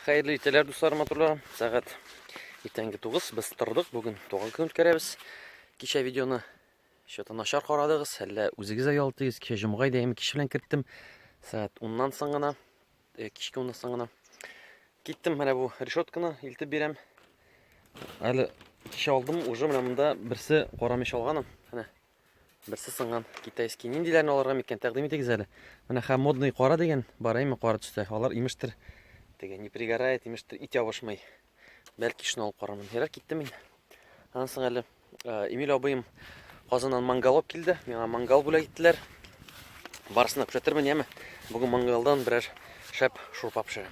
Хәерле итәләр, дуслар, матурларым. Сәгать иртәнге 9. Без тордык. Бүген туган көн үткәрәбез. Кичә видеоны что-то начар карадыгыз, әллә үзегез дә ялтыгыз. Кичә җомга иде, әйме кич белән керттем. Сәгать 10-нан соң гына, э, кичке 10-нан соң гына киттем. Менә бу решетканы илтеп бирәм. Әле кичә алдым, уже менә монда берсе карамыш алганым. Менә Берсе сынган китайский. Ниндиләрне алырга микән? Тәкъдим итегез әле. Менә хәм модный кара дигән бар, әйме кара төстә. Алар имештер. Теге не пригорает, имештер, ит ябышмый. Бәлки шуны алып карармын. Ярар киттем мин. Аннан соң әле э, Эмиль абыем Казаннан мангал алып килде. Миңа мангал бүләк иттеләр. Барысына күрсәтермен, яме. Бүген мангалдан берәр шәп шурпа пешерәм.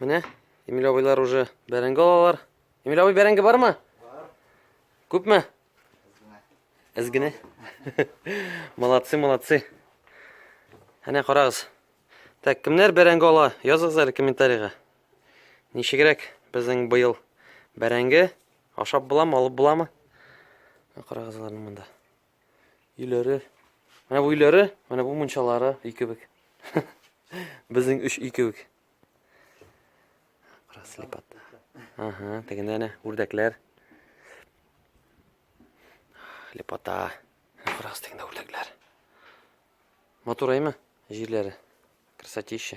Менә Эмиль абыйлар уже бәрәңге алалар. Эмиль абый бәрәңге бармы? Бар. Күпме? Әз генә. Молодцы, молодцы. Әнә карагыз. Так, кемнәр бәрәңге ала? Языгыз әле комментарийга. Ничегрәк безнең быел бәрәңге ашап буламы, алып буламы? Карагыз аларны монда. Өйләре. Менә бу өйләре, менә бу мунчалары өй кебек. Безнең өч өй кебек. Краслепат. Ага, тегендә әнә үрдәкләр. Лепота. Карагыз тегендә үрдәкләр. Матур әйме? Җирләре. Красотища.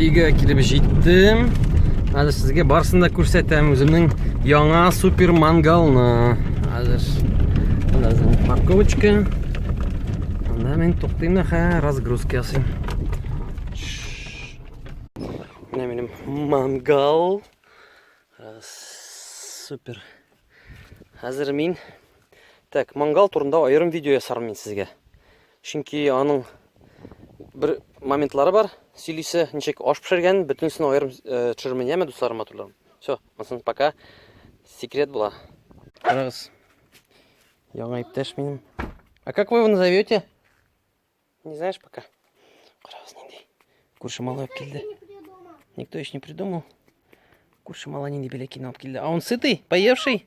Өйгә килеп җиттем. Хәзер сезгә барсын да күрсәтәм үземнең яңа супер мангалны. Хәзер Хәзер парковочка. Анда мин туктыйм да хә разгрузка ясыйм. Менә минем мангал. Супер. Хәзер мин Так, мангал турында аерым видео ясармын мин сезгә. Чөнки аның бер моментлары бар, сөйлисе, ничек аш пешергән, бөтенесен аерым төшермен, яме дусларым, матурларым. Все, монысын пока секрет була. Карагыз. Яңа иптәш минем. А как вы его назовете? Не знаешь пока? Карагыз нинди. Күрше малай килде. Никто еще не придумал. Күрше малай нинди беләкин алып килде. А он сытый, поевший?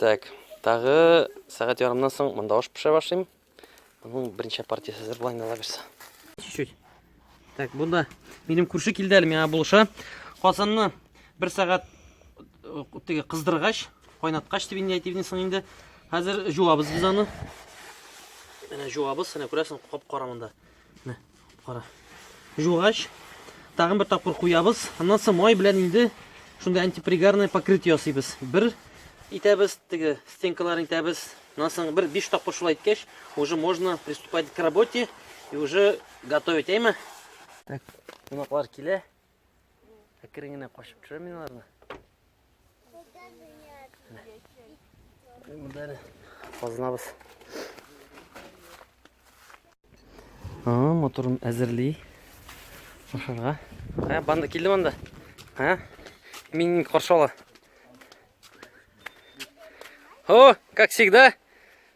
Так, тагы сәгать ярымнан соң монда аш пешерә башлыйм. Аның беренче партиясе әзер була инде алабыз. Чуть-чуть. Так, бу да минем күрше килде әле миңа булыша. Казанны бер сәгать э, теге кыздыргач, кайнаткач дип инде әйтивне соң инде. Хәзер җуабыз без аны. Менә җуабыз, менә күрәсең, кап-кара монда. Менә. Кара. Жугач, тагын бер тапкыр куябыз. Аннан соң май белән инде шундый антипригарное покрытие ясыйбыз. Бер итәбез, теге стенкаларын итәбез. Аннан соң бер 5 тапкыр шулай иткәч, уже можно приступать к работе и уже готовить, әйме? Так, кунаклар килә. Әкрен генә качып төшерәм мин аларны. Монда әле казынабыз. Ага, моторын әзерли. Ашарга. Ә, банда килде монда. Ә? Мин каршы ала. О, как всегда.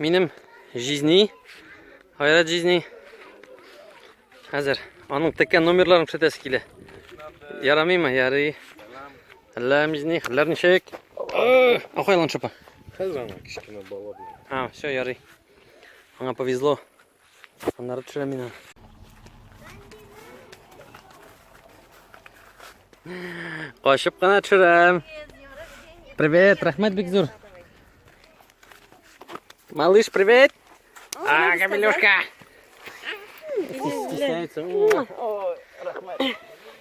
Минем жизни, гайрәт жизни. Хәзер аның теккән номерларын күрсәтәсе килә. Ярамыймы? Ярый. Әллә жизни, хәлләр ничек? Ахайлан шыпа. Хәзер ана кечкенә бала. А, все, ярый. Аңа повезло. Аннары төшерәм мин аны. Качып кына төшерәм. Привет, рәхмәт бик зур. Малыш, привет. А, Камилюшка. Стесняется. Ой, рахмет.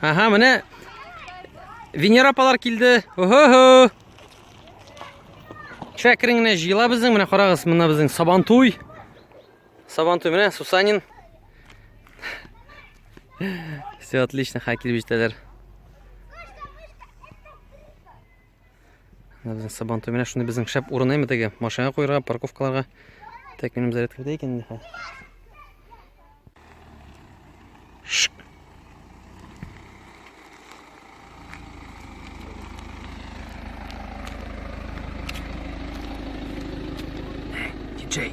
Aha, менә Венера апалар килде. Охо-хо. Чәкрен генә җыела безнең. Менә карагыз, менә безнең Сабантуй. Сабантуй менә Сусанин. Все отлично, ха килеп җитәләр. Менә безнең сабан төбенә шундый безнең шәп урын әйме теге машина куярга, парковкаларга. Тәк минем зарядкада икән инде хәзер. Диджей.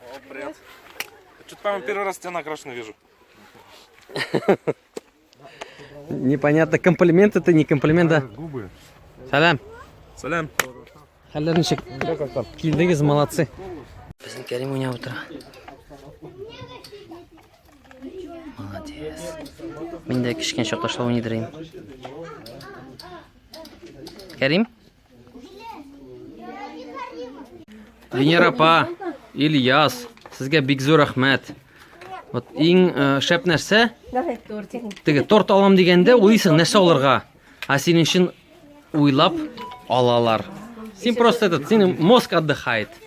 О, привет. Что-то, по-моему, первый раз тебя накрашенно вижу. Непонятно, комплимент это не комплимент, да? Губы. Салям. Салям. Хәлләр ничек? Килдегез, молодцы. Безнең Кәрим уйнап утыра. Молодец. Мин дә кечкенә чакта шулай уйныйдыр идем. Кәрим, Венера апа, Ильяс, сезгә бик зур рәхмәт. Вот иң э, шәп нәрсә, теге торт алам дигәндә уйлыйсың нәрсә алырга. А синең өчен уйлап алалар. Син просто этот, синең мозг отдыхает.